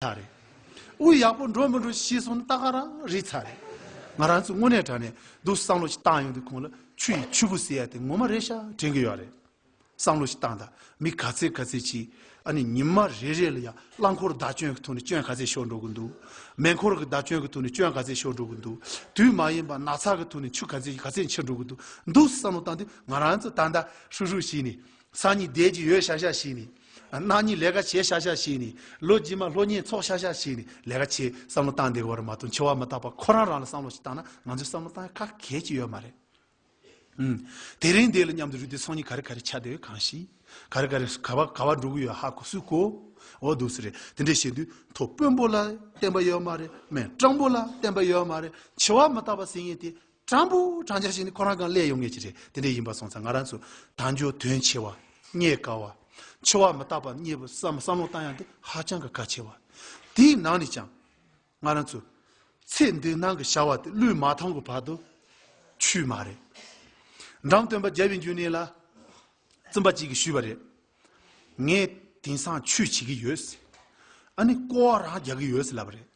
ཚར་རེད། དབུས་ཡག་པོ་འགྲོ་མི་འགྲོ་ཤི་གསོན་ལྟ་ག་རང་རིག་ཚར་རེད། ང་རང་ཚོ་དངོས་གནས་དྲན་ནས་འདུག་བསམ་བློ་ཞིག་བཏང་ཡོང་དུས་ཁོང་ལ་ཆུ་ཡི་ཆུ་བུ་ཟེར་ཡ་དེ་ངོ་མ་རེད་ཤག་དྲན་གི་ཡོད་རེད། བསམ་བློ་ཞིག་བཏང་ད་མི་ག་ཚད་ག་ཚད་ཅིག་ཨ་ནི་ཉིན་མ་རེ་རེ་ལ་ཡང་རླངས་འཁོར་བདག་སྐྱོན་གྱི་ཐོག་ནས་སྐྱོན་ག་ཚད་ཤོར་འགྲོ་གི་འདུག་མེ་འཁོར་གྱི་བདག་སྐྱོན་གྱི་ཐོག་ནས་སྐྱོན་ག་ཚད་ཤོར་འགྲོ་གི་འདུག་དུས་མ་ཡིན་པར་ནག་ཚགས་ཀྱི་ཐོག་ནས་ཆུ་ག་ཚད་ག་ཚད་འཁྱིལ་འགྲོ་གི་འདུག་འདུག་བསམ་བློ་བཏང་དུས་ང་རང་ཚོ་ད་ད་ཧྲུག་ཧྲུག་བྱས་ནས་སང་ཉིན་བསྡད་ཀྱི་ཡོད་ཤག་ཤག་བྱས་ནས། གནངས་ཉིན་ལས་ཀ་བྱེད་ཤག་ཤག་བྱས་ནས། ལོ་རྗེས་མ་ལྷོ་གཉེར་ཚོགས་ཤག་ཤག་བྱས་ནས་ལས་ཀ་བྱེད་བསམ་བློ་བཏང་བསྡད་གོ་རེ་མ་གཏོགས་འཆི་བ་མ་བརྟགས་པར་ཁོ་རང་རང་ལ་བསམ་བློ་ཞིག་བཏང་ན་ང་ཚོས་བསམ་བློ་བཏང་ཡ་ཁག་གལ་གཅིག་ཡོད་མ་རེད། ཨུན། དེ་རིང་འདི་ལ་མཉམ་དུ་རུས་ཏེ་ཚོགས་གཉིས་ག་རེ་ག་རེ་ཆགས་བསྡད་ཡོད་གང་ཞིག། ག་རེ་ག་རེ་ག་བ་ག་བ་འགྲོ་གི་ཡོད་ཧ་གོ་སུས་གོ། འོ་འདུག་སུ་རེད་དེ་འདྲས་བྱས་དུས་མཐོ་དཔོན་པོ་ལ་བསྟན་པ་ཡོད་མ་རེད་སྨད་སྤྲང་པོ་ལ་བསྟན་པ་ཡོད་མ་རེད་འཆི་བ་མ་བརྟགས་པར་ཟིན་ངེས་དེ་དྲང་པོ་དྲང་བྱ་ཞིག་ནི་ཁོ་རང་གང་སླད་ཡོང་ངེས་ཀྱི་རེད་དེ་འདྲས་ཡིན་པ་སོང་ཙང་ང་རང་ཚོ་དྭངས་སྦྱོར་དོན་ཆེ་བ་རྙེད་དཀའ་བ། འཆི་བ་མི་རྟག་པ་རྙེད་པའི་བསམ་བློ་བཏང་ཡང་དེ་ཧ་ཅང་གི་གལ་ཆེ་བ། དེའི་ནང་ནས་ཀྱང་ང་རང་ཚོ་ཚེ་འདི་སྣང་གི་བྱ་བ་དེ་བློས་མ་ཐོངས་གི་བར་དུ་ཆུད་མ་རེད། འགྲམ་སྟོན་པ་རྒྱལ་བའི་འཇུ་ནེ་ལ་བཙུན་པ་གཅིག་གིས་ཞུས་པ་རེད། ངས་དེང་སང་ཆོས་བྱེད་ཀྱི་ཡོད། ཨ་ནི་ཀོ་བ་རང་རྒྱག་གི་ཡོད་ལབ་པ་རེད།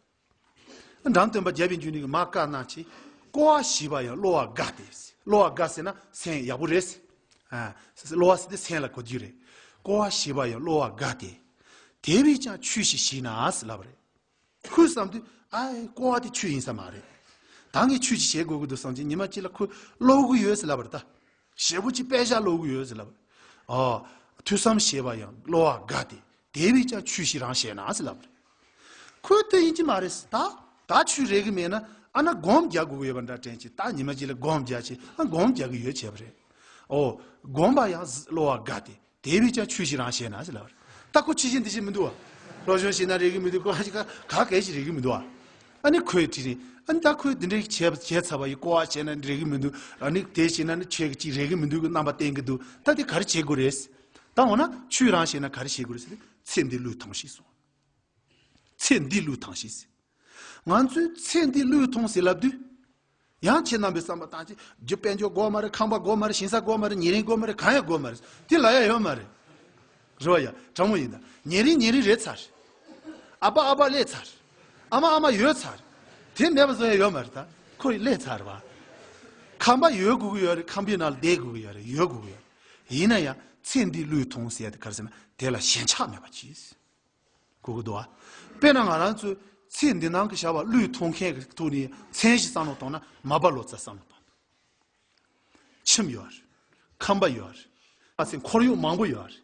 འབྲང་སྟོན་པ་རྒྱལ་བའི་འཇུག་ནུས་ཀྱི་མ་དཀར་ནག་ཅེས་བསྐོར་བ་ཞི་བ་ཡང་གློ་བ་དགའ་སྟེ། གློ་བ་དགའ་ཟེར་ན་ཟན་ཡག་པོ་རེད། གློ་བ་ཟེར་ཏེ་ཟན་ལ་གོ་རྒྱུ་རེད། བསྐོར་བ་ཞི་བ་ཡང་གློ་བ་དགའ་སྟེ། དེ་བས་ཀྱང་ཆུ་ཞིག་ཞིག་ནའང་ལབ་རེད། ཁོས་བསམ་དུས་ཨ་ཨེ་བསྐོར་བ་དེ་ཆུ་ཡིན་ས་མ་རེད། ད་ངས་ཆུ་ཞིག་བྱེད་དགོས་ཀྱི་འདུག་བསམ་ཅིང་ཉི་མ་གཅིག་ལ་ཁོས་ཀློག་གི་ཡོད་ལབ་རེད་ད། ཞེ་པོ་ཅི་པད་ཤ་གློ་བུར་ཡོད་ཟེར་ལབ། ཨོ། ཐོས་བསམ་ཞེས་པ་ཡང་གློ་བ་འགའ་སྟེ་དེ་བས་ཀྱང་ཆུ་ཞིག་རང་བྱས་ན་ཟེར་ལབ། ཁོས་ལྟོས་ཡིན་གྱི་མ་རེད་ཟེར། ད། ད་ཆུ་རེག་གི་མེད་ན་ཨ་ན་སྒོམ་རྒྱག་དགོས་ཀྱི་ཡོད་པ་འདྲ་དྲན་ཅིག་ད་ཉི་མ་གཅིག་ལ་སྒོམ་རྒྱག་ཅིག་ཨ་སྒོམ་རྒྱག་གི་ཡོད་བྱས་པ་རེད། ཨོ། སྒོམ་པ་ཡང་གློ་བ་འགའ་སྟེ་དེ་བས་ཀྱང་ཆོས་ཤིག་རང་བྱས་ན་ཅི་ལབ། སྟག་གོ་ཁྱི་བྱས་འདི་བྱས་མི་འདུག་བ། སློབ་སྦྱོང་བྱས་ན་རེག་གི་མི་འདུག་ག་ག་གལ་ཞིག་རེག་གི་མི་འདུག་བ། ཨ་ནི་ཁོས་དྲིས་ནས། ཨ་ནི་ད་ཁོས་འདི་འདྲའི་བྱས་བྱས་ཚར་བ་ཡིན་ཀོ་བ་བྱས་ན་རེག་གི་མི་འདུག་ཨ་ནི་དེ་བྱས་ན་ནི་ཁྱོད་ཀྱི་ཅིག་རེག་གི་མི་འདུག་གི་རྣམ་པ་བསྟན་གི་འདུག་ད་དེ་ག་རེ་བྱེད་དགོས་རེད། ད་འོ་ན་ཆོས་རང་བྱས་ན་ག་རེ་བྱེད་དགོས་རེད་ཟེར་ཏེ་ཚེ་འདི་བློས་ཐོངས་ཤིག་གསུངས། ཚེ་འདི་བློས་ཐང་ཤིག་ཟེར། ང་ཚོས་ཚེ་འདི་བློས་ཐོངས་ཟེར་ལབ་དུས། ཡང་ཁྱེད་རྣམ་པའི་བསམ་པ་དང་ཅི། རྒྱུ་དཔལ་འབྱོར་དགོས་མ་རེད་ཁང་པ་དགོས་མ་རེད་ཞིང་ས་དགོས་མ་རེད་ཉེ་རིང་དགོས་མ་རེད་གང་ཡང་དགོས་མ་རེད། དེ་ལ་ཡ་ཡོད་མ་རེད། རེ་བ་ཡ། དྲང་མོ་ཡིན་ད། ཉེ་རིང་ཉེ་རིང་རེད་ཚར། ཨ་ཕ་ཨ་ཕ་སླེས་ཚར། ཨ་མ་ཨ་མ་ཡོད་ཚར། དེ་མེད་པ་བཟོ་ཡ་ཡོད་མ་རེད་ད། ཁོ་ཡི་སླེས་ཚར་བ། ཁང་པ་ཡོད་དགོས་ཀྱི་ཡོད་རེད་ཁང་པའི་ནང་ལ་བསྡད་དགོས་ཀྱི་ཡོད་རེད་ཡོད་དགོས་ཀྱི་ཡོད་རེད། ཡིན་ན་ཡང་ཚེ་འདི་བློས་ཐོངས་ཟེར་ཏེ་གར་ཟེར་ན་དེ་ལ་ཞེན་ཆགས་མེད་པ་གྱིས། གུ་གུ་དོ། དཔེར་ན་ང་རང་ཚོས་ཚེ་འདི་སྣང་གི་བྱ་བ་བློས་མཐོང་མཁན་གྱི་ཐུགས་ནས་མཚན་གཞི་བསམ་བློ་བཏང་ན་མ་སྦ་ལོ་ཙཱ་བསམ་བློ་བཏང་དགོས། ཁྱིམ་ཡོད་རེད། ཁམས་པ་ཡོད་རེད། ང་ཚོས་འཁོར་ཡུག་མང་པོ་ཡོད་རེད།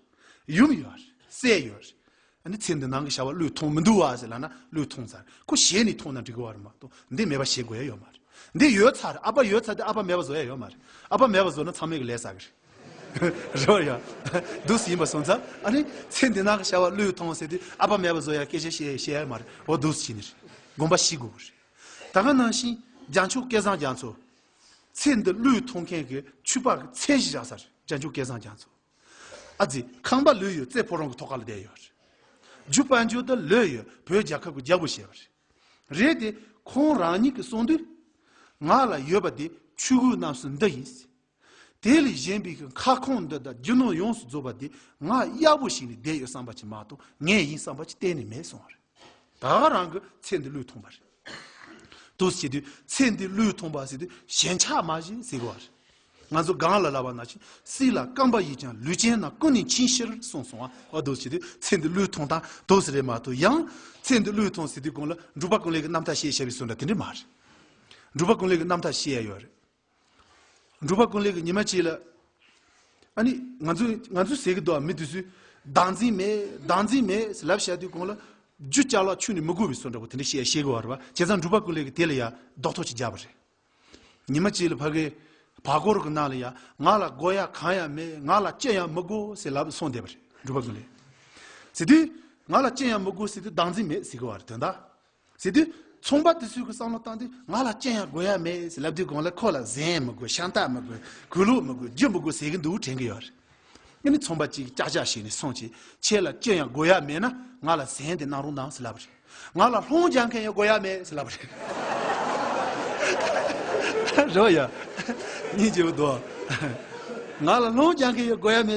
ཡུམ་ཡོད་རེད། སྲས་ཡོད་རེད། འདི་ཚེ་འདི་སྣང་གི་བྱ་བ་བློས་མཐོང་མི་འདུག་བ་ཟེར་ལ་ན་བློས་མཐོང་ཚར་རེད། ཁོ་ཞེ་ནས་མཐོང་ན་འགྲིག་གི་བ་རེད་མ་གཏོགས་འདི་མེད་པ་ཞེ་དགོས་ཡ་ཡོད་མ་རེད། འདི་ཡོད་ཚར་རེད་ཨ་པ་ཡོད་ཚར་དེ་ཨ་པ་མེད་པ་བཟོ་ཡ་ཡོད་མ་རེད། ཨ་པ་མེད་པ་བཟོ་ན་ཚང་མས་གི་ལས་ཟ་གི་རེད། རོལ་ཡ། སྡུག་ཡིན་པ་སོང་ཙང་ཨ་ནི་ཚེ་འདི་ན་གི་བྱ་བ་བློས་ཐོང་ཟེར་དུས་ཨ་ཕ་མེད་པ་བཟོ་ཡ་སྐད་ཆ་བཤད་བཤད་ཡ་མ་རེད་འོ་སྡུག་བྱས་ནི་རེད་དགོངས་པ་ཞི་དགོས་པ་རེད། ད་ག་ནང་བཞིན་རྒྱ་མཆུ་སྐལ་བཟང་རྒྱ་མཚོ། ཚེ་འདི་བློས་ཐོང་མཁན་གི་ཆུ་ཕག་གི་ཚད་གཞི་རག་ས་རེད་རྒྱ་མཆུ་སྐལ་བཟང་རྒྱ་མཚོ། ཨ་ཙི་ཁང་པ་ལུས་ཡོད་ཙེ་ཕོ་རོང་གི་ཐོག་ཁ་ལ་བསྡད་ཡོད་རེད། རྒྱུ་དཔལ་འབྱོར་དུ་ལོས་ཡོད་བོད་རྒྱལ་ཁབ་གི་རྒྱལ་པོ་བྱས་པ་རེད། རེད་དེ་ཁོང་རང་ཉིད་ཀྱི་གསུང་དུས། ང་ལ་ཡོད་པ་དེ་ཆུ་གུ་རྣམས་སུ་འདི་ཡིན། དེ་ལས་གཞན་པའི་ཁ་སྐོང་འདི་དང་རྒྱུ་ནོར་ཡོངས་སུ་རྫོགས་པ་དེ་ང་གཡར་པོ་ཞིག་ནས་བསྡད་ཡོད་བསམ་པ་ཅིག་མ་གཏོགས་ངའི་ཡིན་བསམ་པ་ཅིག་གཏན་ནས་མེད་སོང་བ་རེད། ད་ག་རང་གི་ཚེ་འདི་བློས་ཐོངས་པ་རེད། དུ་ཟེར་དུས་ཚེ་འདི་བློས་ཐོངས་པ་ཟེར་དུས་ཞེན་ཆགས་མ་བཞིན་ཟེར་གི་བ་རེད། ང་ཚོ་སྒང་ལ་ལ་བ་ན་ཆིན་སྲིད་ལ་སྐམ་པ་ཡིས་ཀྱང་ལུས་ཅན་རྣམས་ཀུན་ནས་ཆིན་ཤིར་གསུངས་སོང་བ་དུ་ཟེར་དུས་ཚེ་འདི་བློས་ཐོངས་དང་དུ་ཟེར་རེད་མ་གཏོགས་ཡང། ཚེ་འདི་བློས་ཐོངས་ཟེར་དུས་གང་ལ་འབྲུག་པ་ཀུན་ལེགས་ཀྱི་རྣམ་ཐར་ཤེས་བྱ་བའི་སྲོལ་འདྲ་དེ་འདྲ་མ་རེད། འབྲུག་པ་ཀུན་ལེགས་ཀྱི་རྣམ་ཐར་ཤེས་ཡ་ཡོད་རེད། འབྲུག་པ་ཀུན་ལེགས་ཀྱི་ཉི་མ་ཁྱེད་ལ། ཨ་ནི། ང་ཚོའི་ང་ཚོའི་ཟས་ཀྱི་རྡོ་ཨ་མི་དུས་སུ། བདག་འཛིན་མེད་བདག་འཛིན་མེད་ཟེར་ལབ་བཤད་དུས་གོང་ལ། རྒྱུ་ལྕགས་ལ་ཆུ་ནི་མི་དགོས་པའི་སོ་འདྲ་བོ་དེ་འདྲ་བཤད་ཤེས་དགོས་བ་རེད་བ་བྱས་ཙང་འབྲུག་པ་ཀུན་ལེགས་ཀྱི་དེ་ལ་ཡ་རྡོག་ཐོག་ཅིག་རྒྱབ་བ་རེད། ཉི་མ་ཁྱེད་ལ་ཕ་གི། བ་གོར་གི་ནང་ལ་ཡ་ང་ལ་སྒོ་ཡ་གང་ཡང་མེད་ང་ལ་ཅི་ཡང་མི་དགོས་ཟེར་ལབ་སོང་བསྡད་པ་རེད་འབྲུག་པ་ཀུན་ལེགས། ཟེར་དུས། ང་ལ་ཅི་ཡང་མི་དགོས་ཟེར་དུས་བདག་འཛིན་མེད་ཟེར་གི་བ་རེད་དོན་དག། ཟེར་དུས། ཚོང་པ་དེ་ཚོས་ཁོའི་བསམ་བློ་བཏང་དུས་ང་ལ་སྤྱན་ཡང་དགོས་ཡ་མེད་ཟེར་ལབ་དུས་གང་ལེགས་ཁོ་ལ་གཟན་མི་དགོས་ཤ་མདའ་མི་དགོས་གུས་ལུགས་མི་དགོས་རྒྱུ་མི་དགོས་ཟེར་གྱི་འདུག་དྲན་གྱི་ཡོད་རེད། ངས་ནི་ཚོང་པ་གཅིག་གིས་ཅག་ཅག་བྱས་ནས་སོང་ཆེ་ཁྱེད་ལ་སྤྱན་ཡང་དགོས་ཡ་མེད་ན་ང་ལ་གཟན་དེ་གནང་རོགས་གནང་ཟེར་ལབ་རེད། ང་ལ་ལྷོང་སྦྱང་མཁན་ཡང་དགོས་ཡ་མེད་ཟེར་ལབ་རེད། རེ་བ་ཡོད། གཉིས་ཀྱི་འོད་དོ། ང་ལ་ལྷོང་སྦྱང་མཁན་ཡང་དགོས་ཡ་མེད།